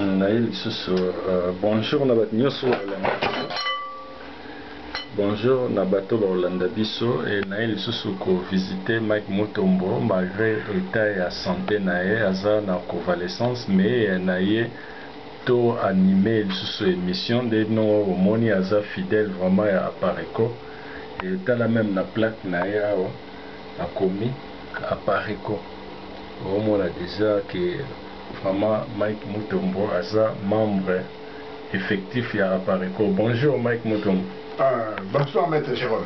naye lisusu euh, bonjour na bato nyonso balanda biso bonjour na bato bakolanda biso e naye lisusu kovisite mike mutombo malgré etat ya sante na ye aza na convalescence mais euh, na ye to anime lisusu émission nde no omoni aza fidèle vraiment ya apareco etala meme na plaque na ye awa akomi apareco Omona dejà que vraiment Mike Mutombo aza membre effectif ya Apareco. Bonjour Mike Mutombo. Ah, bonsoir Maitre Jerome.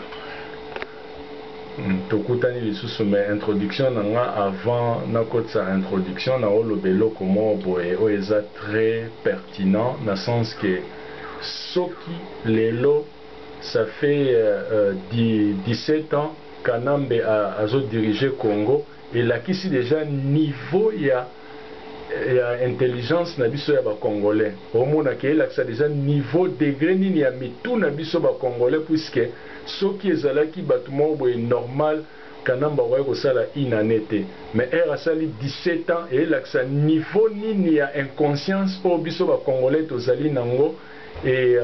Tokutani lisusu mais introduction na nga avant nakotisa introduction na oloba eloko moko boye oyo eza très pertinent na sens que soki lelo ça fait 17 ans Kanambe azo diriger Congo elakisi dejà niveau ya ya intelligence na biso ya ba congolais omona ke elakisa dejà niveau degre nini ya mitu na biso ba congolais puisque soki ezalaki batu moko boye normal kanambe akoki kosala une annee te mais heure asali 17 ans elakisa niveau nini ya inconscience oyo biso ba congolais tozali na ngo et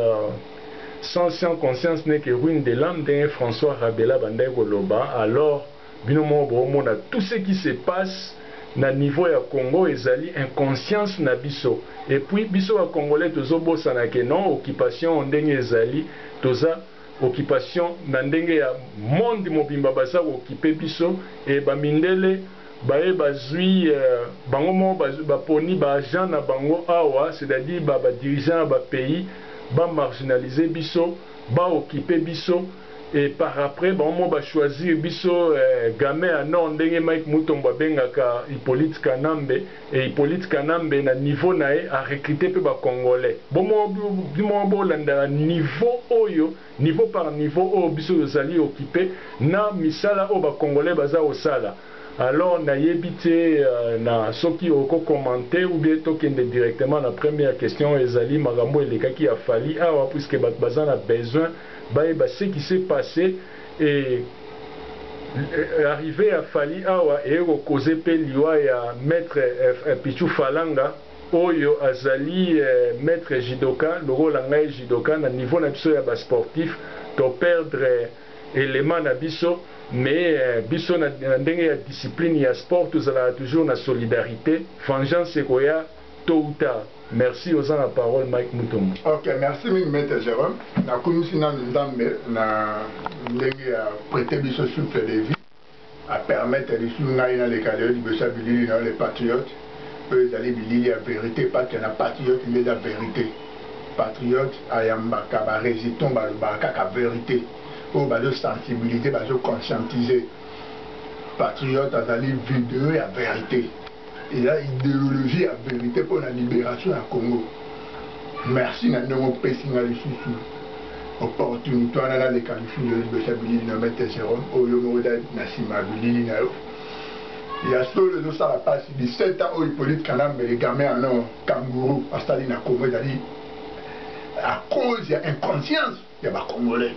sans conscience n'est que ruine de l'ame ndenge François Rabela abandaki koloba alors Bino moko bo mona tout ce qui se passe na niveau ya Congo ezali inconscience na biso et puis biso ba congolais tozo bosana ke non occupation ndenge ezali toza occupation na ndenge ya monde mobimba baza ko occuper biso et ba mindele baye bazui bango moko bazui ba poni ba agents na bango awa c'est à dire ba ba dirigeants ya ba pays ba marginaliser biso ba occuper biso et par après bango moko ba choisir biso game ya nord ndenge Mike Mutombo abengaka Hyppolite Kanambe et Hyppolite Kanambe na niveau na ye a recruter pe ba congolais bomoko bolandaka niveau oyo niveau par niveau oyo biso tozali occupe na misala oyo ba congolais baza kosala alors na yebi te na soki oko commenter ou bien tokende directement na première question ezali makambo elekaki ya Fally awa puisque batu baza na besoin bayeba ce qui s'est passe et arrivee ya Fally awa eye ko causer pe liwa ya Maitre Pitshou Falanga oyo azali Maitre Judoka lokola ngai Judoka na niveau na biso ya ba sportifs to perdre element na biso mais biso na ndenge ya discipline ya sport tozalaka toujours na solidarite vengeance ekoya Tot ou tard. Merci oza na parole Mike Mutombo. Ok merci mingi maitre Jerome na kumisi nanu nzambe na ndenge a prete biso souffle de vie a permettre lisusu ngai na leka lelo liboso ya bilili na yo le patriote oyo ezali bilili ya verite parce que na patriote nde eza verite patriote ayambaka ba resitons balobaka kaka verite oyo bazo sensibiliser bazo conscientiser patriote azali video ya verite eza ideologie ya verite mpo na liberation ya congo merci na ndenge opesi nga lisusu opportunité wana naleka lisusu yo liboso ya bilili na mete jerome oyo oh, moko na nsima ya bilili na yo ya solo ezosala mpasi 17 ans oyo hippolite kanambe le gamin en or kanguru asali na congo ezali à cause ya inconscience ya ba congolais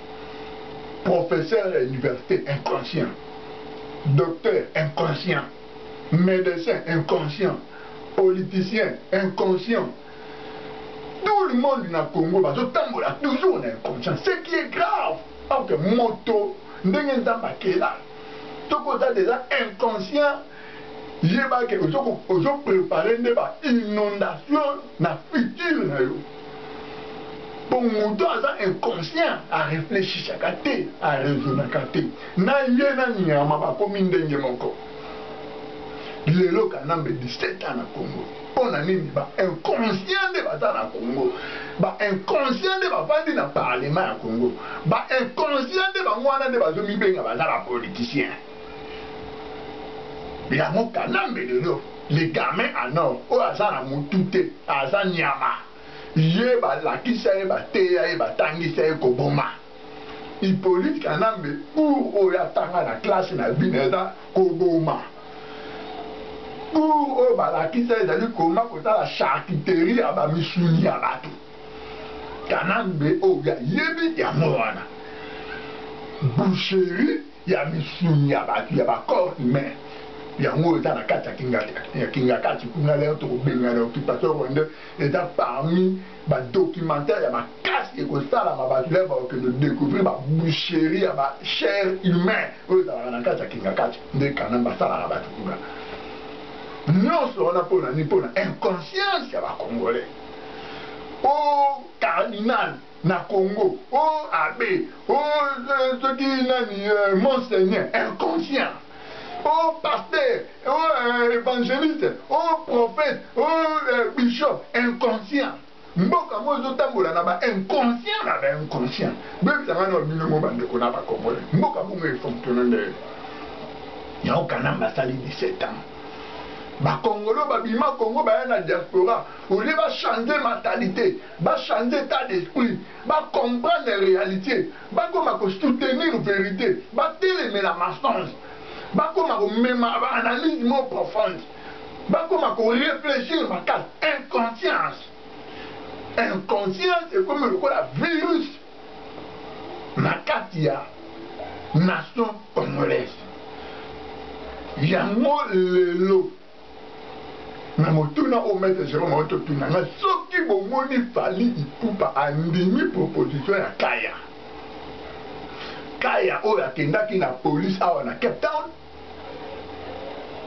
professeur ya université inconscient docteur inconscient médecin inconscient politicien inconscient tout le monde na congo bazotambola toujours na inconscient ce qui est grave parce que moto ndenge nzambe akela soki oza deja inconscient yeba ke ozo prepare nde ba inondation na future na yo po moto aza inconscient areflechisaka te arezonaka te na ye na nyama bakomi ndenge moko lelo kanambe 17 ans na congo mpo na nini ba inconscient nde baza na congo ba inconscient nde bavandi na parlement ya congo ba inconscient nde bango wana nde bazomibenga baza ba politicien yango kanambe lelo le gamin en or oyo aza na mutu te aza nyama ye balakisa ye bateya ye batangisa ye koboma Hippolyte Kanambe cours oyo atanga na classe na bino eza koboma cours oyo balakisa ezali koma kotala charcuterie ya bamisuni ya bato Kanambe oyo ayebi yango wana boucherie ya misuni ya bato ya ba corps humain yango oyo eza na kati ya kingakati kuna leo tokobengana occupation rwandais eza parmi badocumentaire ya makasi ekosalama bato leo bakokende découvrir baboucherie ya bachere humain oyo ezalaka na kati ya kingakati nde kana basalaka bato kuna nyonso wana mpo na nini mpo na inconscience ya bacongolais o cardinal na congo oh abe oh soki nani monseigneur inconscient oh pasteur oh evangeliste oh prophète oh bishop inconscient mboka yango ezotambola na ba inconscient na ba inconscient bebisa ngai na bino mo bandeko na bakongole mboka bongo efonctionne nde yango kanamba asali 17 ans bakongolo babima kongo baya na diaspora olie bachange mentalite ba changer etat d'esprit, ba comprendre realite, bakoma ko soutenir verite, batelemela mensonge, bakoma komema ba analyses moko profondes, bakoma ko reflechir makasi. Inconscience! Inconscience ekomi lokola virus na kati ya nation congolaise. Yango lelo. me motuna oyo maître jerome auti otuna nga soki bomoni fali ipupa andimi proposition ya kaya kaya oyo akendaki na polise awa na cape town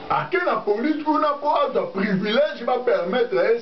ake na polise kuna mpo azwa privilège bapermettre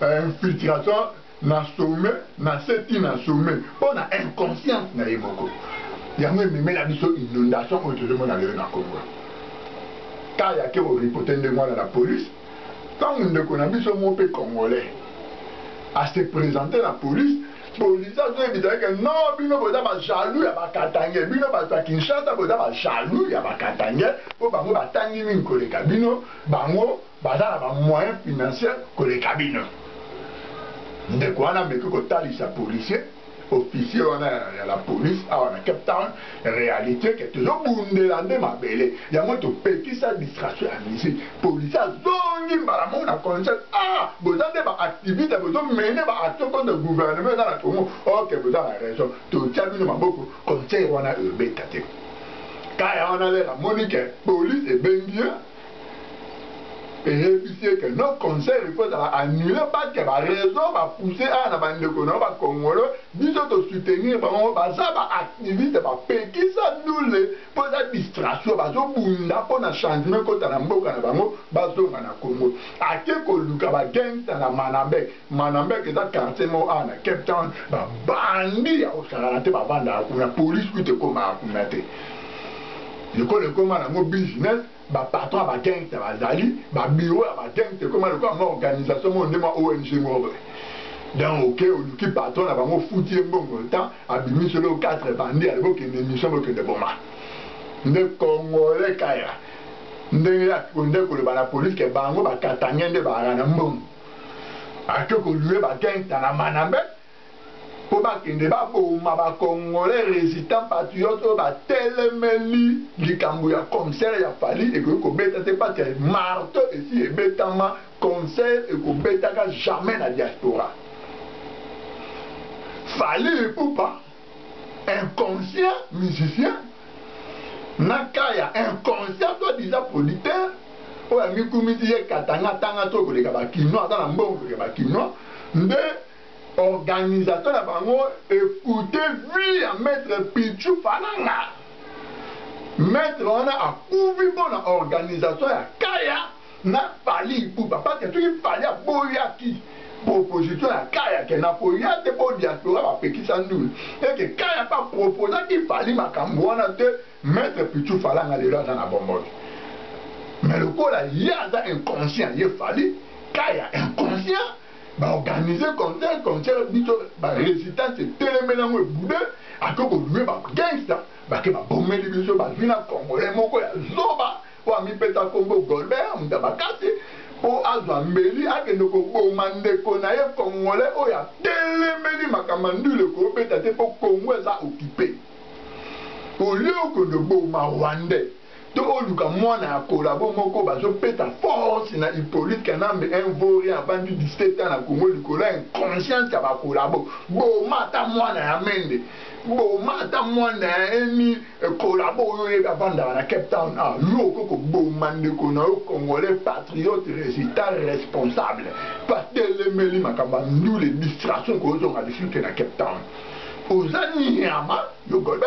infiltration na sommet na se ti na sommet mpo na inconscience na ye moko yango ememela biso inondation oyo tozomona lelo na congo ka yake oripote ndenge wana na police ntango ndeko na biso moko mpe congolais ase présente na police police azoyebisa yeke no bino boza bajaloux ya bakatange bino bato ya kinshasa boza bajaloux ya bakatange mpo bango batangi mingi koleka bino bango Baza na ba moyens financiers koleka bino. Ndeko wana ameki kotalisa policier, officier wana ya la police awa na Cape Town realite ke tozo bundela nde mabele. Yango topekisa distraction ya musique. Policier azongi mbala moko na concert. Ah! Boza nde ba activistes bozo mener ba actions contre gouvernement eza na Congo. Ok boza na raison. Totia bino maboko concert wana ebeta te. Kaya wana lelo amoni ke police ebengi ye. eyebisi ye ke no concert ifo ezala annule parce que baraison bapousse awa na bandeko na yo bakongolo biso tosoutenir bango baza baactiviste bapekisa ndule mpo eza distraction bazobunda mpo na changement ekota na mboka na bango bazonga na congo ake koluka bagangsta na manambek manambek eza quartier moko awa na cape town babandi ya kosakana te bavandaka kuna polise kuta ekomaka kuna te Ekolo ekoma nango business, ba patrons ya ba gangster bazali, ba bureaux ya ba gangster ekoma lokola mua organisation moko nde mua ong moko boye. Donc oke oluki patron na bango ofuti ye mbongo le temps abimisi yo eloko quatre bandits alobi okende emission bokende boma nde congolais kaya ndenge ya konde koloba na police ke bango ba katangais nde baaka na mbongo ake kolue ba gangster na manambe po ba kende ba boma ba congolais resistant patriote oyo ba telemeli likambo ya concert ya Fally ekoki ko beta te parce que marteau esi ebetama concert eko betaka jamais na diaspora Fally Ipupa inconscient musicien na kaya inconscient toi disant producteur oyo amikumisi ye katanga tanga to koleka ba kinois aza na mbongo koleka ba kinois nde Organisation na bango ekoute vie ya maitre Pitchou Falanga. Maitre wana akufi mpo na organisation ya Kaya na Fally Ipupa parce que soki Fally aboyaki proposition ya Kaya ke nakoya te mpo diaspora bapekisa ndule et que Kaya mpe aproposaki Fally makambo wana te, maitre Pitchou Falanga lelo aza na bomoi te. Mais lokola ye aza inconscient ye Fally Kaya inconscient ba organiser concert concert biso ba resistance etelemeli yango ebude ake kolue ba gangster bake babomeli biso bazwi na congolais moko ya zoba oyo amipesa nkombo golbert moto ya makasi mpo azwa mbeli akende koboma ndeko na ye congolais oyo atelemeli makambo ya ndule kobeta te mpo congo eza okipe olie okende oboma rwandais to oluka mwana ya collabo moko bazo peta force na Hyppolite Kanambe un vaut rien avandi 17 ans na Congo likolo ya inconscience ya ba collabo boma ata mwana ya Mende boma ata mwana ya eni eh, collabo oyo oyebi avandaka na Cape Town ah yo oko koboma ndeko na yo congolais patriote résultat responsable patelemeli makambo ya ndule distraction kozonga lisusu te na Cape Town oza nyama yo golbe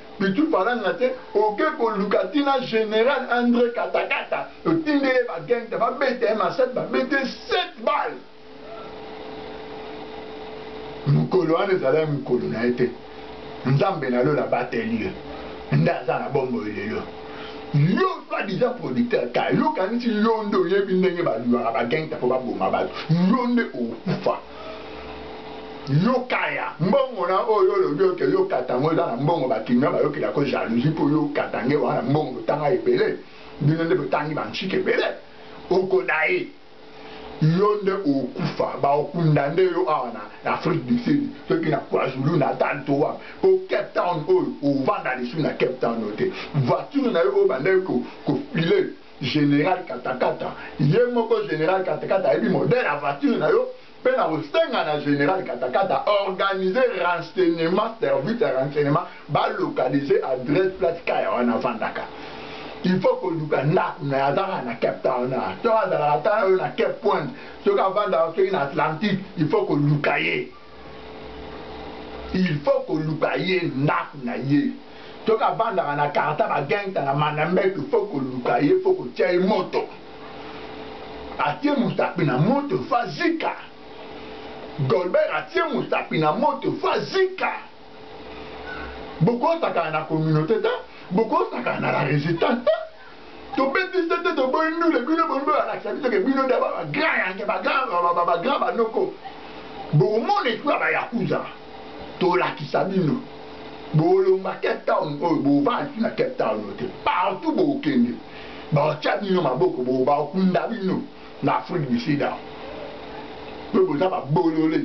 Mais tu falanga te oke koluka tina general Andre Katakata otinde ye ba gangta ba beta ye masasi ba bete 7 balles mokolo wana ezala ye mokolo na ye te nzambe na lola abateli ye nde aza na bombo lelo yo soit disant producteur ka yo kanisi yo nde oyebi ndenge balulaka bagangta mpo baboma bato yo nde okufa yo kaya mbongo na oyo olobi oke yo katango eza na mbongo bakinga bayokela ko jalousie mpo yo katange wana mbongo botanga ebele bino nde botangi banchike ebele okodaye yo nde okufa baokunda nde yo awa na afrique du sud soki na kwazulu natal to wana mpo cape town oyo ovanda lisu na cape town oyo te voiture na yo oyo bandaki kofile General Katakata ye moko General Katakata ayebi modèle ya voiture na yo mpe na kosenga na General Katakata organiser renseignement service ya renseignement ba localiser adresse place Kaya wana afandaka il faut koluka ndako na azaka na Cape Town na to azalaka ata na yo na Cape Point soki avandaka soki na Atlantique il faut koluka ye il faut koluka ye ndako na ye soki avandaka na karta bagengta na manambeto faut koluka ye faut kotia ye moto atie mosapi na moto faut azika golbert atie mosapi na moto faut azika bokosakana na communauté te bokosakana na la résistance te tobeti sete toboyi ndule bino bondo alakisa biso ke bino nde bagrand yange bagrand banoko bokomona etu ya bayakuza tolakisa bino bolongwa cape town oyo bovandi na cape town oyo te partout bokende baotya bino maboko bo bakunda bino na afrique du sud awa mpe boza babolole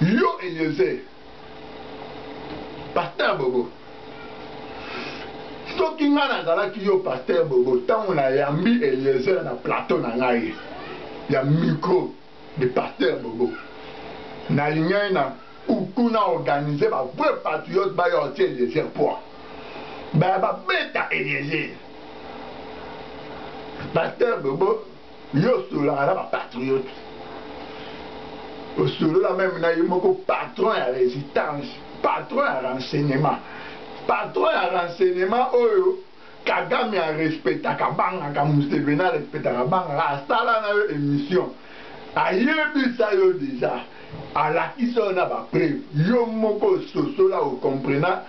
yo eliezer pasteur bobo soki ngai nazalaki yo pasteur bobo ntango nayambi eliezer na plateau na ngai ya micro de pasteur bobo nalingaki na kuku na organise ba vrai patriote baya otie eliezer poi baya babeta eliezer pasteur bobo Yo osololaka na ba patriote, osolola meme na ye moko patron ya resistance, patron ya renseignement, patron ya renseignement oyo Kagame a respectaka abangaka, Museveni a respectaka abangaka, asala na yo emission, ayebisa yo dejà, alakisa yo na ba preuves, yo moko ososola o comprena,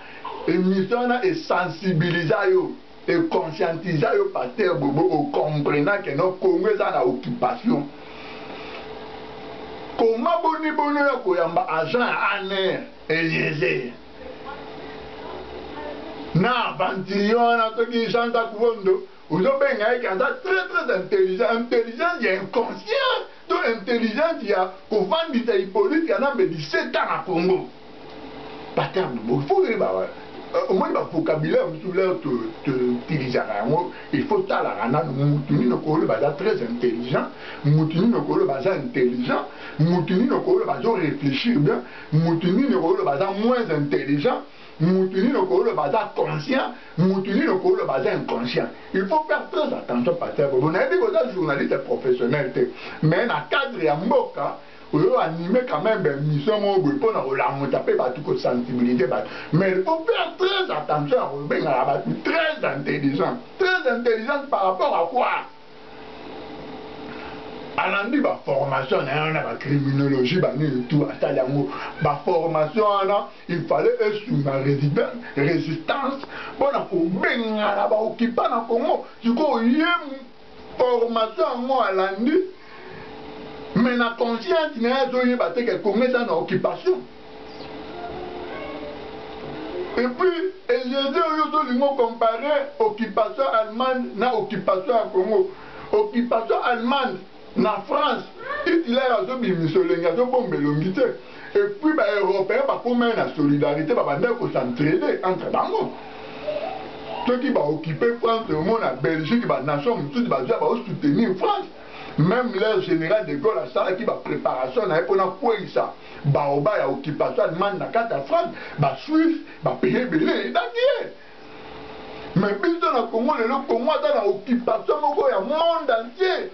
emission wana e sensibilisa yo. e conscientisa yo pasteur bobo o comprena que non congo eza na occupation koma boni boni oya koyamba agent ya aner eliezer na aventurier wana toki jean jacques vondo ozobenga ye ke aza très très intelligent intelligence ya inconscient to intelligence ya kofandisa hypolite kanambe 17 ans na congo paterme il faut oyeba omoni ba vocabulaire mosusu leo toutilisaka yango il faut talaka nanu mutu nini okoloba aza très intelligent mutu nini okoloba aza intelligent mutu nini okoloba azo réfléchir bien mutu nini okoloba aza moins intelligent mutu nini okoloba aza conscient mutu nini okoloba aza inconscient il faut faire très attention pater bobo nayebi koza journaliste professionnel te mais na cadre ya mboka oyo anime quand même ben mission moko boye mpo na kolamuta mpe bato kosensibiliser bato mais il faut faire très attention ya kobengaka bato très intelligent très intelligente par rapport à quoi alandi baformation na ye wana bacriminologie banini tout asali yango baformation wana il fallait esunga résistance mpo na kobengana baokipa na congo sikoyo ye Formation yango alandi mais na conscience na ye azoyeba te ke Congo eza na occupation. Et puis, Eliezer Yozo Lingo comparer occupation allemande na occupation à Congo. Occupation allemande na France, Hitler azo bimiso lengi azo bombe longi te. Et puis ba europeen bakomai na solidarite babandaki ko s'entraider entre bango. Soki ba occuper France omona Belgique ba nations mosusu bazoya bao soutenir France. Meme leur general de Gaulle asalaki ba preparations na ye mpo na kweyisa baoba ya occupation allemande na kati ya France. Ba suisse ba pays ebele aidaki ye. Mais biso na Congo lelo Congo aza na occupation moko ya monde entier.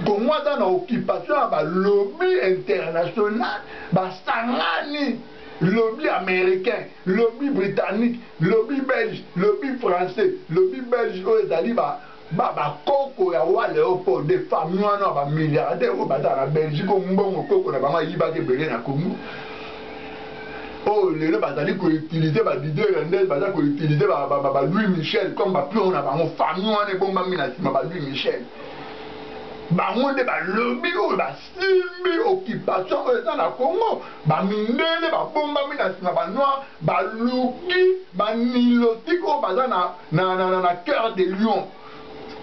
Congo aza na occupation ya ba lobby international basangani lobby américain lobby britannique lobby belge lobby français lobby belge oyo ezali ba ba bakoko ya wa leopold de famille wana ya bamilliardaire oyo bazala na belgique oyo mbongo koko na bango ayibaki ebele na congo oyo oh, lelo bazali koutilize balider ya ndele baza koutilize balouis michel comme bapion na bango famille wana ebombami na nsima balouis michel bango nde balobi oyo basimbi occupation oyo eza na congo bamindele babombami na nsima banoir baluki banilotike oyo baza na, na, na, na, na cœur de lion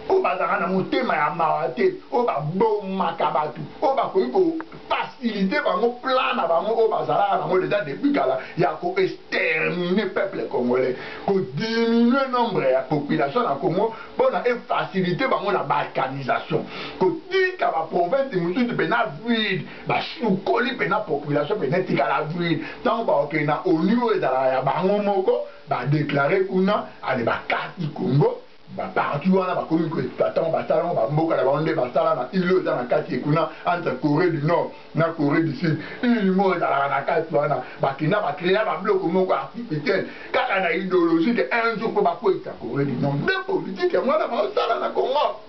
oyo bazalaka na motema ya mawa te oyo babomaka bato oyo bakoki kofasilite bango plan na bango oyo bazalaka nango deja depuis kala ya koestermine peuple congolais kodiminue nombre ya population na congo mpo na efasilite bango na balkanisation kotika baprovince mosusu mpena vide basukoli mpena population mpena etikala vide ntango bakokende na onu oyo ezalaka ya bango moko Ba declare kuna ale ba kati Congo ba parti wana bakomi ko exploite yango basala yango ba mboka na bango nde basala na ile oyo eza na kati ye kuna entre Coree du Nord na Coree du Sud ile moko ezalaka na kati wana bakenda ba crea ba bloko moko artificiel kaka na ideologie ke un jour po bakweyisa Coree du Nord nde politique yango wana baosala na Congo.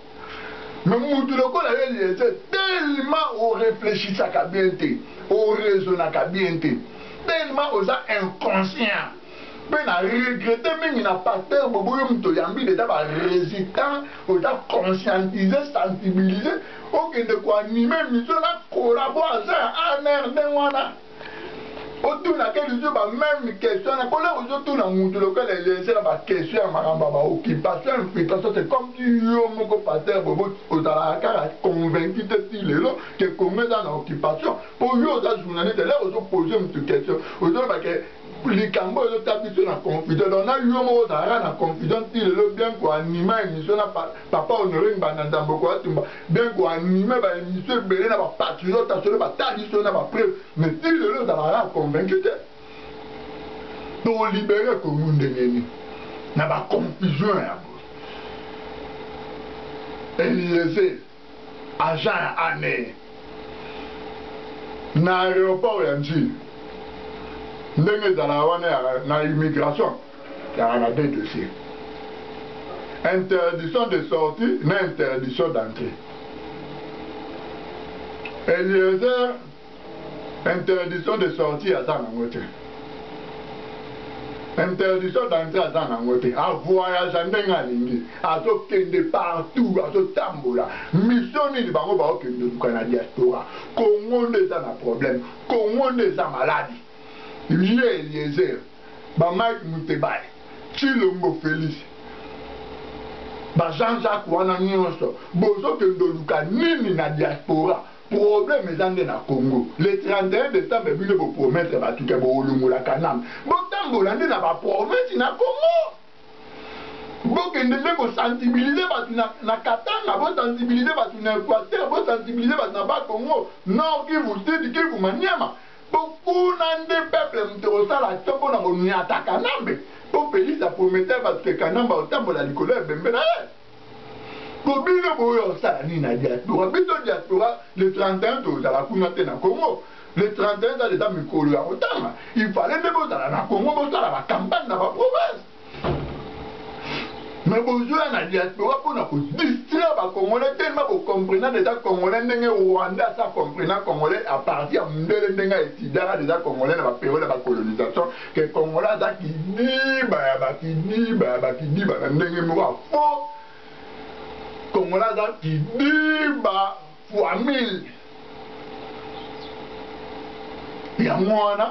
mais mutu lokola yo eliezer tellement o reflechisaka bien te o raisonnaka bien te tellement oza inconscient mpe na regrete mingi na paster bobo yo moto oyambi deja ba résitant oza conscientise sensibilise okende koanime miso na kolabo aza ya anr ndenge wana otuna ke lizo ba meme question na kola ozotuna mutu lokola eliezer na ba question ya makambo ya ba occupation infiltration c'est comme si yo moko pasteur bobo ozalaka kaka convaincu te ti lelo ke congo eza na occupation po yo oza journaliste lelo ozopose mutu question ozoloba ke likambo oyo ezotya biso na confusion donc na yo moko ozalaka na confusion ti lelo bien koanima emission na Papa Honore Ngbanda Nzamboko Atumba bien ko animer ba emissions ebele na ba patriotes solo ba tali biso na ba preuves mais ti lelo ozalaka kaka convaincu te. To liberer Congo ndenge nini na ba confusions ya boye? Eliezer agent ya ANR na aeroport ya N'djili ndenge ezalaka wana ya na immigration. Yaka na deux dossiers. Interdiction de sortie na interdiction d'entrée. Eliezer interdiction de sortie aza nango te. Interdiction d'entrée aza nango te. A voyage ndenge alingi, azokende partout, azotambola. Mission nini bango baokende luka na diaspora? Congo nde eza na problème. Congo nde eza maladi. Ye Eliezer ba Mike Mutebai, Tshilombo Felix, ba Jean Jacques wana nionso bozo kende oluka nini na diaspora? Problème eza nde na Congo. Le 31 decembre bino bo promettre batu ke boolongola Kanambe. Botambola nde na ba province na Congo. Bokende nde ko sensibiliser batu na, na Katanga, bo sensibiliser batu na Equateur, bo sensibiliser batu na Bas Congo, Nord Kivu, Sud Kivu, Maniema. Bokuna nde peuple moto ekosala ata mpo na konyata Kanambe mpo Felix a promettre bato ke Kanambe akotambola likolo ya ebembe na ye. Mpo bino boya kosala nini na diaspora? Biso diaspora le 31 tozala kuna te na Congo. Le 31 eza dejà mikolo ya kotanga. Il fallait nde bozala na Congo bosala ba campagne na ba province. me bozoya na diaspora mpo na kodistraire bacongolais telema bocomprena deja congolais ndenge rwanda asa comprena congolais a partir ya mundele ndenge aesidaka deja congolais na baperiode ya bacolonisation ke congolais aza kidiba ya bakidiba ya bakidiba na ndenge moko ya fo congolais aza kidiba fois mille yango wana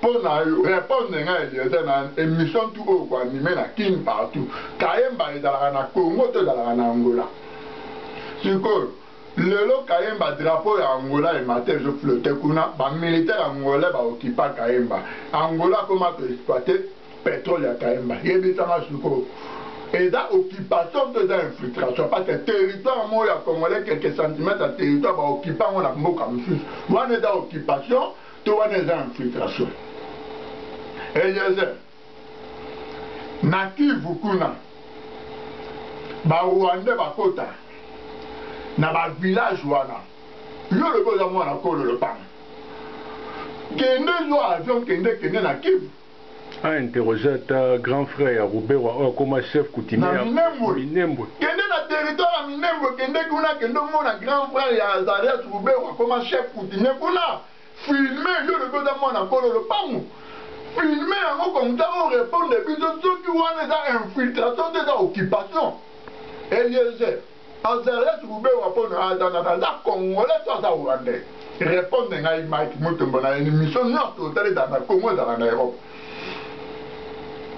Mpo na yo repondre nga Eliezer na emission tout oyo ko anime na kin partout kayemba ezalaka na Congo to ezalaka na Angola? Sikoyo lelo kayemba drapeau ya Angola emati ezo flotter kuna ba militaire angolais ba occupa kayemba Angola akoma ko exploiter petrole ya kayemba yebisa nga sikoyo eza occupation to eza infiltration parce que territoire moko ya congolais quelques centimètres ya territoire ba occupa ngo na mboka mosusu wana eza occupation To wana eza infiltration. Eliezer, na Kivu kuna ba Rwandais bakota na ba villages wana, yo olobi oza mwana kolo lopango, kende zwa avion kende kende na Kivu. A interroger ata grand frère ya Ruberwa oyo akoma chef coutumier ya Minembwe. Kende na territoire ya Minembwe, kende kuna, kende omona grand frère ya Azarias Ruberwa akoma chef coutumier kuna. Filmer, yo olobi oza mwana kolo lopangu, filmer yango comme ça o repondre biso soki wana eza infiltration to eza occupation. Eliezer. Azarias Ruberwa mpo na aza nani? Aza congolais to aza rwandais? Repondre ngai Mike Mutombo na emission nyonso otali ezala na Congo ezala na Europe.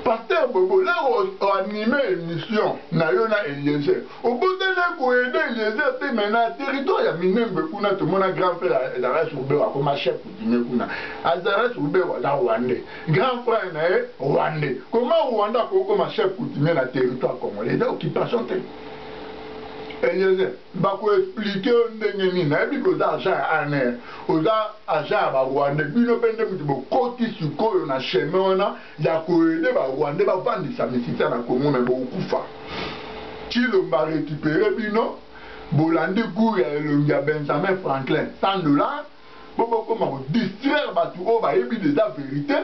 Pasteur Bobo lero anime emission na yo na Eliezer. Obotana ko aider Eliezer te mais na territoire ya Minembwe kuna tomona grand frère ya Azarias Ruberwa akoma chef coutumier kuna. Azarias Ruberwa aza rwandais. Grand frère na ye rwandais. Comment Rwanda akokoma chef coutumier na territoire congolais? Eza occupation te. Eliezer bako explique yo ndenge nini nayebi ke oza agent ya ANR oza agent ya ba rwandais bino mpe nde mutu bokoti sikoyo na chemin wana ya ko aider ba rwandais bavandisa misisa na Congo mais bokokufa Tshilombo a recuperer bino bolandi cours ya elongi ya Benjamin Franklin 100 dollars po bokoma ko distraire batu oyo bayebi dejà verite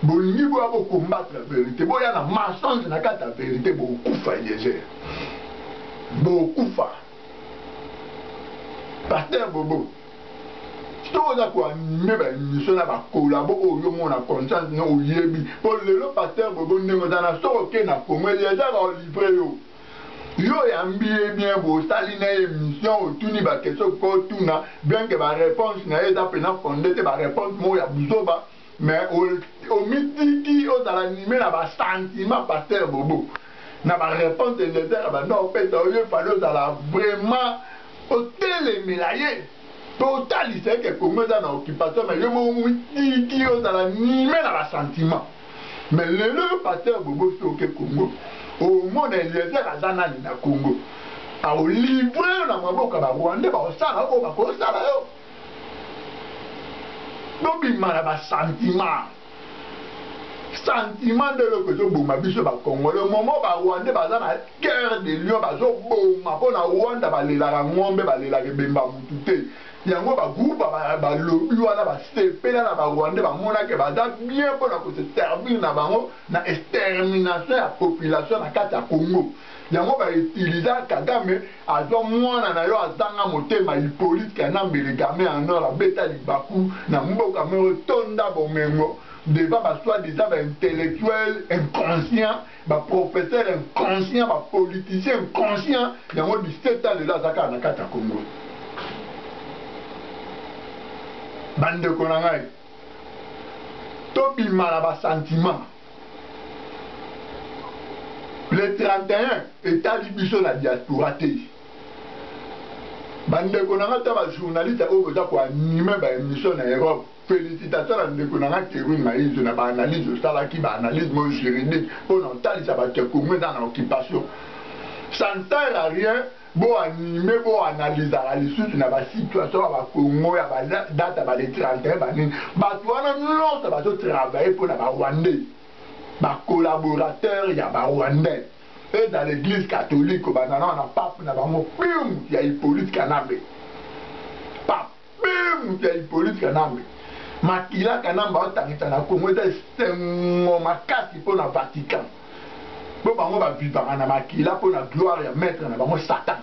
bolingi boya bo combattre verite boya na mensonge na kati ya verite bokokufa eliezer bokokufa pasteur bobo soki oza koanime baémission na bakolabo oyo yo mona conscience no oyebi mpo lelo paster bobo ndenge oza na soki oke na congo eliezaka olivre yo yo oyambi ye bien bosali na ye émission otuni ba question okoki otuna bien que ba réponse na ye eza mpena fonde te ba réponse moko ya buzoba mais omitiki ozala anime na ba sentiment pasteur bobo na ba réponse eliezer abanda opesa yo yo fali ozala vraiment otelemela ye mpe otalisa ye ke congo eza na occupation mais yo moko omitiki ozala anime na ba sentiment mais lelo yo pasteur bobo soki oke congo omona eliezer aza nani na congo aolivre yo na maboko ya barwandais baosala oyo bakosala yo bobima na basentiment sentiment nde eloko ezoboma biso bakongole momo barwandais baza na cœur de lion bazoboma mpo na rwanda balelaka ngombe balelaka ebemba mutu te Yango ba groupe ba lobi wana ba sepela na ba rwandais ba mona ke baza bien pona ko se servir na bango na extermination ya population na kati ya congo yango ba utilisa kagame azwa mwana na yo azanga motema hypolite kanambe le game en or abeta libaku na mboka moko tonda bomengo devant ba soit disant ba intellectuel inconscient ba professeur inconscient ba politicien inconscient yango 17 ans lelo aza kaka na kati ya congo bandeko na ngai tobima na basentiment le 31 etali biso na diaspora te bandeko na ngai ta bajournaliste oyo boza koanime baémission na europe Felicitation na ndeko na nga Kerwin Mayizo na ba analyse osalaki ba analyse moyo juridique pona otalisa batu ya Congo eza na occupation ça ne sert à rien bo anime bo analysaka lisusu na ba situation ya ba Congo ya ba date ya ba le 31 ba nini batu wana nionso bazo travailler pona ba Rwandais ba collaborateurs ya ba Rwandais eza l'eglise catholique obanda na wana pape na bango pium ya Hippolyte Kanambe Mpe moto ya Hyppolite Kanambe, makila Kanambe aotangisa na Congo eza esengo makasi mpo na Vatican. Mpo bango ba vivaka na makila mpo na gloire ya maitre na bango Satan.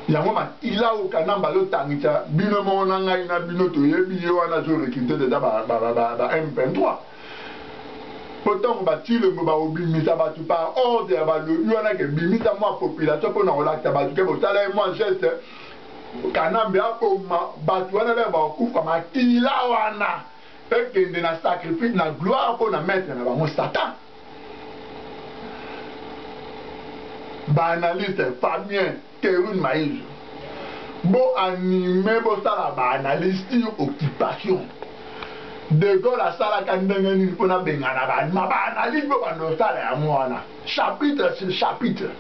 Yango makila oyo Kanambe azotangisa bino moko na ngai na bino toyebi ye wana azo recruter deja ba, ba, ba, ba, ba M23. Mpo ntango ba Tshilombo bakobimisa bato par ordre ya balobi wana ke bimisa mwa population mpo na kolakisa bato ke bosala ye mwa geste Kanambe aboma batu wana lelo bakokufa makila wana ekende na sacrifice na gloire mpo na maitre na bango satan ba analyste Fabien Kerwin Mayizo bo anime bosala ba analyse sur occupation de Gaulle asalaka ndenge nini mpo nabengana ba alima ba analyse bo bandosala yango wana chapitre sur chapitre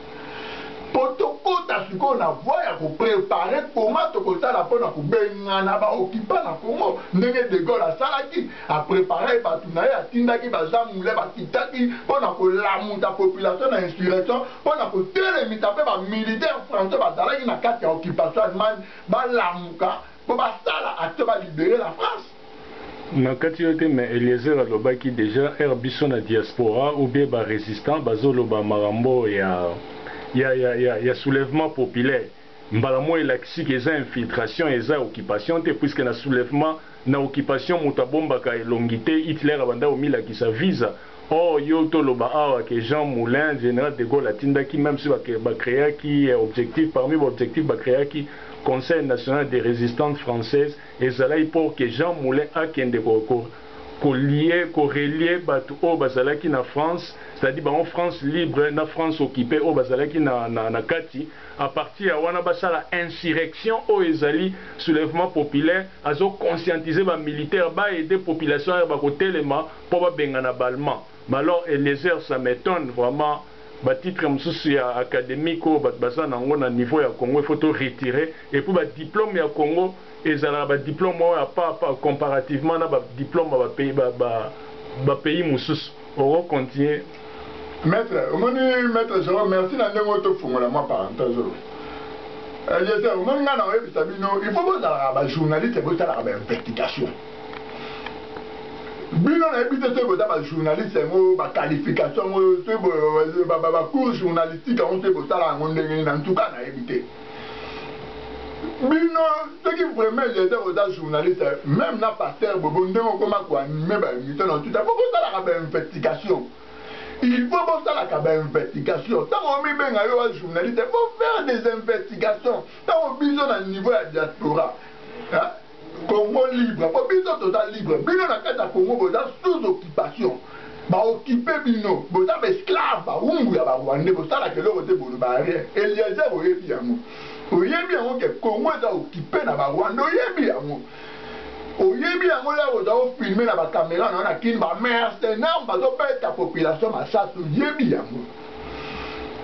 mpo tokota sikoyo na voi ya koprepare koma tokosala mpo na kobengana baokipa na congo ndenge de gaulle asalaki apreparaki bato na ye atindaki bazamule bakitaki mpo na kolamuta population na insurrection mpo na kotelemisa mpe bamilitaire français bazalaki na kati ya occupation allemagne balamuka mpo basala action balibere la france Na kati yo te mais eliezer alobaki dejà heure biso na diaspora ou bien ba resistant bazo loba makambo ya ya ya ya ya soulevement populaire mbala moya elakisi que eza infiltration eza occupation te puisque na soulevement na occupation mutu abombaka elongi te Hitler abandaki komilakisa visa or yo to loba awa que Jean moulin general de Gaulle atindaki meme si ba creaki objectif parmi ba objectif ba creaki conseil national de resistante française Ezalaki pour que Jean Moulin akende ko ko lier, ko relier batu oyo bazalaki na France, c'est à dire bango France libre na France occupe oyo bazalaki na na kati, à partir ya wana basala insurrection oyo ezali soulevement populaire, azo conscientiser ba militaires ba aider population air bakotelema mpo babengana ba allemands, mais alors Eliezer ça m'etonne vraiment. Ba titre mususu ya academique oyo batu baza na ngo na niveau ya congo il faut to retire et puis ba diplome ya congo ezalaka ba diplome moko ya papa comparativement na ba diplome ba pays ba pays mususu oko continue Maitre omoni maitre Jerome merci na ndenge oyo tofungola mwa parenthèse oyo Eliezer omoni ngai na oyebisa bino il faut bozalaka ba journaliste bosalaka ba investigation bino nayebi te soki boza bajournaliste yango baqualification yango soki bacour journalistique yango soki bosala yango ndenge nini na ntuka nayebi te bino soki vraiment eliezer oza journaliste meme na pasteur bobo ndenge okoma koanime baémission na tuta po bosalaka bainvestigation il faut bosalaka bainvestigation ntango omibenga yo wa journaliste faut faire des investigations ntango biso na niveau ya diaspora Congo libre po biso toza libre bino na kati ya Congo boza sous occupation ba occupe bino boza ba esclave ba umbu ya ba rwandais bosalaka eloko te boloba rien Eliezer oyebi yango oyebi yango ke Congo eza occupe na ba rwandais oyebi yango oyebi yango lelo oza o filme na ba camera na yo na kin ba mercenaires bazobeta population masasi oyebi yango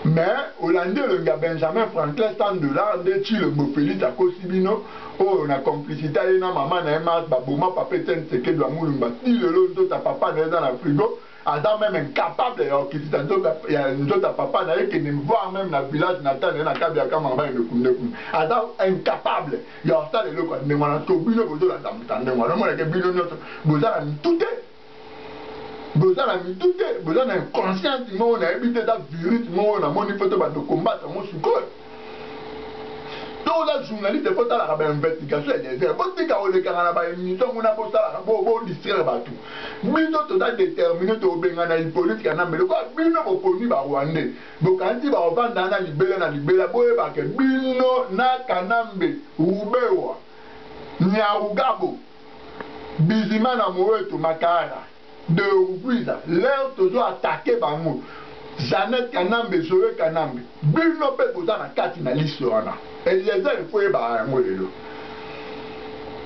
mais olandi elongi ya Benjamin Franklin 100 dollars nde Tshilombo Felix akosi bino oyo na complicite aye na maman na ye Marthe baboma papa Etienne Tshisekedi wa Mulumba ti lelo nzoto ya papa na ye eza na frigo aza meme incapable ya kokitisa nzoto ya nzoto ya papa na ye kende voir meme na village natal na ye na Kabiakama na Baye Mekunde kuna aza incapable ya kosala eloko ya ndenge wana to bino bozolanda moto ya ndenge wana omonake bino nionso boza na mitu te boza na mitu te boza na inconscience moko nayebi te eza virus moko namoni mpo te bando kombata yango sikoyo to oza journaliste mpo otalaka bainvestigation ya desert botika kolekaka na baémission kuna bosalaka bodistraire bato bino toza détermine tobengana hippolite kanambe lokola bino boponi barwandais bokanisi baovanda na libela na libela boyebake bino na kanambe rubewa nyarugabo Bizimana Moeto Makara de Urquiza l'heure tozo attaque bango Jeannette Kanambe Zoe Kanambe bino pe boza na kati na liste wana Eliezer il faut oyebaka yango lelo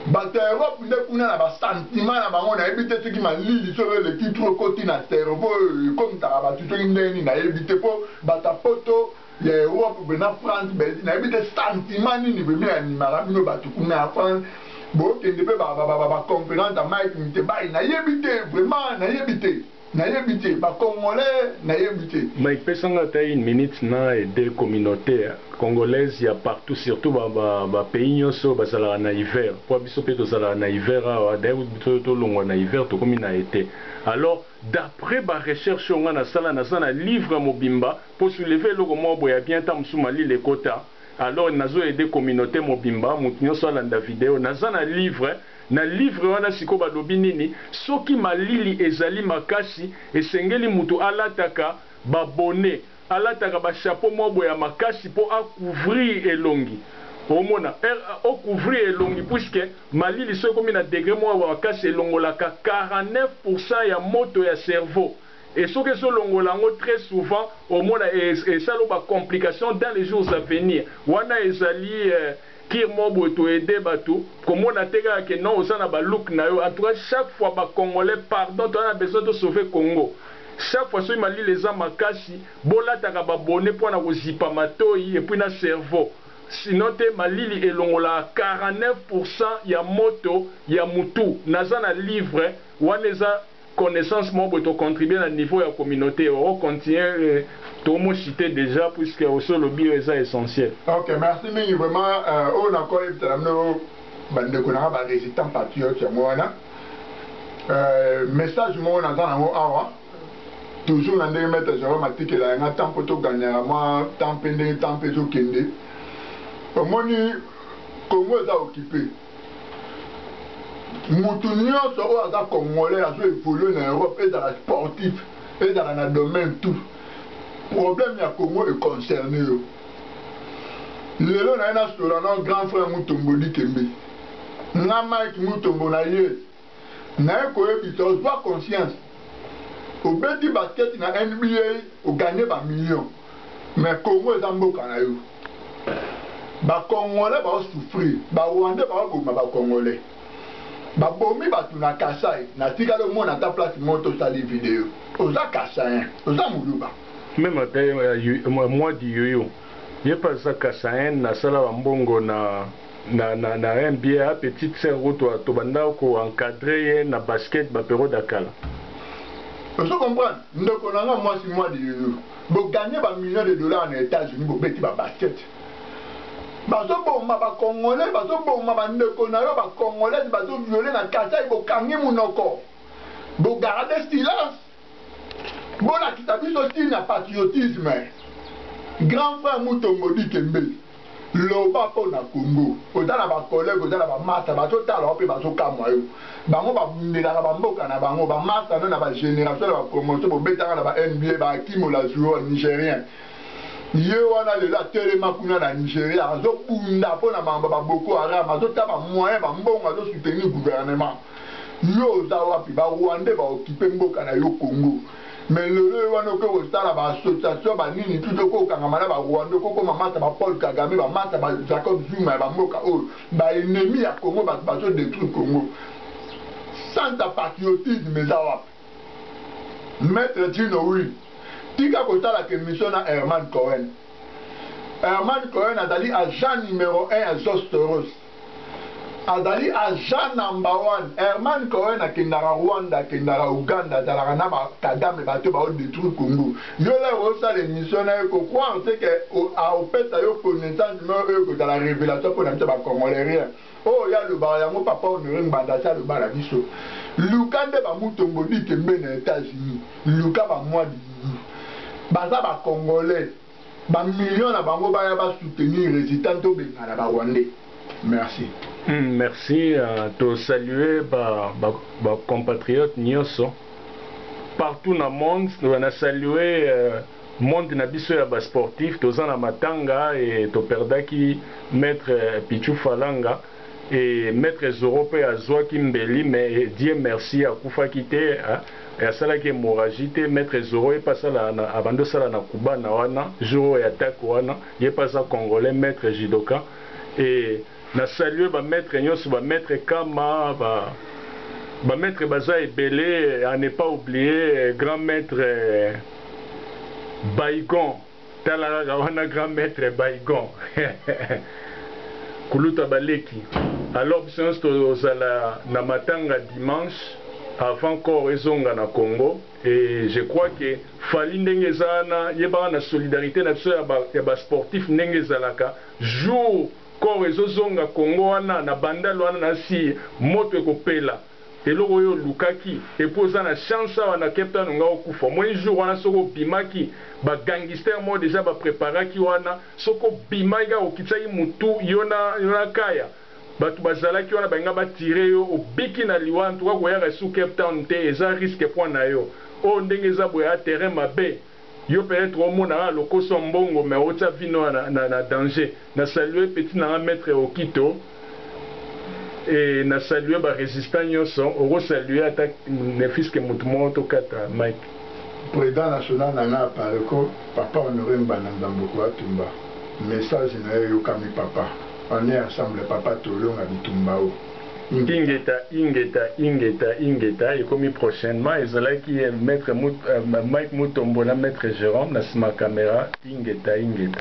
Batu ya Europe nde kuna na ba sentiment na bango nayebi te soki malili solo eleki trop ekoti na cerveau ekomisaka batu soki ndenge nini nayebi te po batu ya poto ya Europe mpe na France Belgique nayebi te sentiment nini vraimen animaka bino bato kuna ya France bokende mpe baconférence ya Mike Mitebayi nayebi te vraiment nayebi te nayebi te bacongolais nayebi te Mike pesanga ata une minute na ede communaute congolaise ya partout surtout bapays nyonso bazalaka na hiver mpo biso mpe tozalaka na hiver awa d'ailleurs biso tolongwa na hiver tokomi na ete alors d'après barecherche oyo ngai nasala naza na livre mobimba Ko soulever eloko moko boye ya bien temps mosusu malili ekota alors nazo aide communaute mobimba mutu nioso alanda video naza na livre na livre wana sikoyo balobi nini soki malili ezali makasi esengeli mutu alataka ba bonnet alataka ba chapeau moko boye ya makasi po a couvrir elongi omona o couvrir elongi puisque malili soki ekomi na degre moko ya makasi elongolaka 49 pourcent ya moto ya cerveau et soki ezo longola yango très souvent omona esalo ba complications dans les jours à venir wana ezali kir moko boye to aide batu komona te kaka ke non oza na ba look na yo en tout cas chaque fois ba congolais pardon toza na besoin to sauver congo chaque fois soki malili eza makasi bolataka ba bonnet po na kozipa matoyi et puis na cerveau sinon te malili elongolaka 49 pourcent ya moto ya mutu naza na livre wana eza connaissance moko boye to contribuer na niveau ya communaute oko continuer tomo citer dejà puisque osi olobi oyo eza essentiel. Ok merci mingi vraiment oyo na ko yebisa na bino ba ndeko na nga ba resitants patriotes yango wana message moko naza na ngo awa toujours na ndenge maitre Jerome atikela ya nga temps po to gagnaka mwa temps pe ndenge temps pe ezo kende omoni Congo eza occupe mutu nyonso oyo aza congolais azo evolue na europe ezala sportif ezala na domaine tout problème ya congo econcerne yo lelo naye nasola na grand frère mutombo dikembe nga mike mutombo na ye naye koyebisa ozua conscience obeti basket na nba o gagne ba million mais congo eza mboka nayo ba congolais bao souffrir ba rwandais bao boma ba congolais ba bomi batu na kasai natikali omona ata place moko to sali video oza kasaien oza muluba Meme ata ya mwa di yoyo ye pe aza kasaien asala ba mbongo na. na na na NBA petite sœur kutu to banda ko encadrer ye na basket ba periodes ya kala. Ozo comprendre? Ndeko na nga mwasi mwa lilulu bo gagner ba millions de dollars na Etats Unis bo beti ba basket. Bazo boma ba congolais, bazo boma ba ndeko na yo ba congolaise bazo violer na Kasaï bo kangi munoko. Bo garder silence. bolakisa biso style na patriotisme grand frère mutombo dikembe loba mpo na congo oza na bacollègue oza na bamasta bazotala yo mpe bazokamwa yo bango babundelaka bamboka na bango bamasta no na bagénération na bapromotion bobetaka na ba nba baakimola zuo nigérien ye wana lelo atelema kuna na nigeria azobunda mpo na mambo baboko haram azotya bamoyen bambongo azosoutenir gouvernement Yo oza wapi ba rwandais ba occupe mboka na yo congo mais lelo yo wana oke kosala ba association ba nini tout oko kangama na ba rwandais oko koma masa ba paul kagame ba masa ba jacob zuma ya ba mboka oyo ba ennemis ya congo batu bazo detruire congo santa patriotisme eza wapi Maître Gino Will, tika kosalaka emission na Herman Cohen. Herman Cohen azali agent numero 1 ya Zostoros. azali agent number one Herman Cohen akendaka Rwanda akendaka Ouganda azalaka na ba Kagame bato ba odetruire Congo yo lè osala emission nayo ko croire te ke aopesa yo connaissance moko oyo ekozala revelation pona biso ba congolais rien oyo ya lobaka yango papa Honore Ngbanda asi aloba na biso luka nde ba Mutombo Dikembe na Etats Unis luka ba mwa dididu baza ba congolais ba millions na bango baya ba soutenir resistance tobengana ba rwandais merci. Hum merci uh, to salue ba ba, ba compatriotes nyoso partout na monde na salue uh, monde na biso ya ba sportif toza na matanga e toperdaki maître Pichu Falanga Et maitre Zorro pe azuaki mbeli mais Dieu merci akufaki te et asalaki hemorragie te, maitre Zorro ye pe asala na abandi osala na cubana wana jour oyo ya attaque wana ye pe aza congolais maitre judoka et na saluer ba maitres nionso ba maitre Kama ba ba maitre baza ebele à ne pas oublier grand maitre Baygon. Tala kaka wana grand maitre Baygon kuluta ba leki. Alors biso nionso tozala na matanga dimanche avant corps ezonga na Congo et je crois que Fally ndenge eza wana yebaka na solidarite na biso ya ba sportifs ndenge ezalaka jour corps ezo zonga Congo wana na bandal wana nasi moto ekopela. eloko oyo olukaki et puis oza na chance awa na cape town nga okufa omoni jour wana soki obimaki ba gangister moko dejà ba preparaki wana soki obimaki kaka okitisaki mutu yo na yo na kaya batu bazalaki wana balinga ba tire yo obiki na liwa en tout cas koyaka lisusu cape town te eza risque point nayo oyo ndenge eza boye a terrain mabe. Yo peut etre omona kaka lokoso ya mbongo mais otia vie no ya na danger. Na salue petit na nga maitre Okito et na salue ba resistant nioso. Oko salue ata ne fils que mutu moko to kata mic. President national na nga Apareco papa Honore Ngbanda Nzambuku Atumba message nayo eyokami papa on est ensemble papa tolonga bitumba oh. Ingeta ingeta ingeta ingeta ekomi prochainement ezalaki maitre Mike mutombo na maitre Jerome na sima camera ingeta ingeta.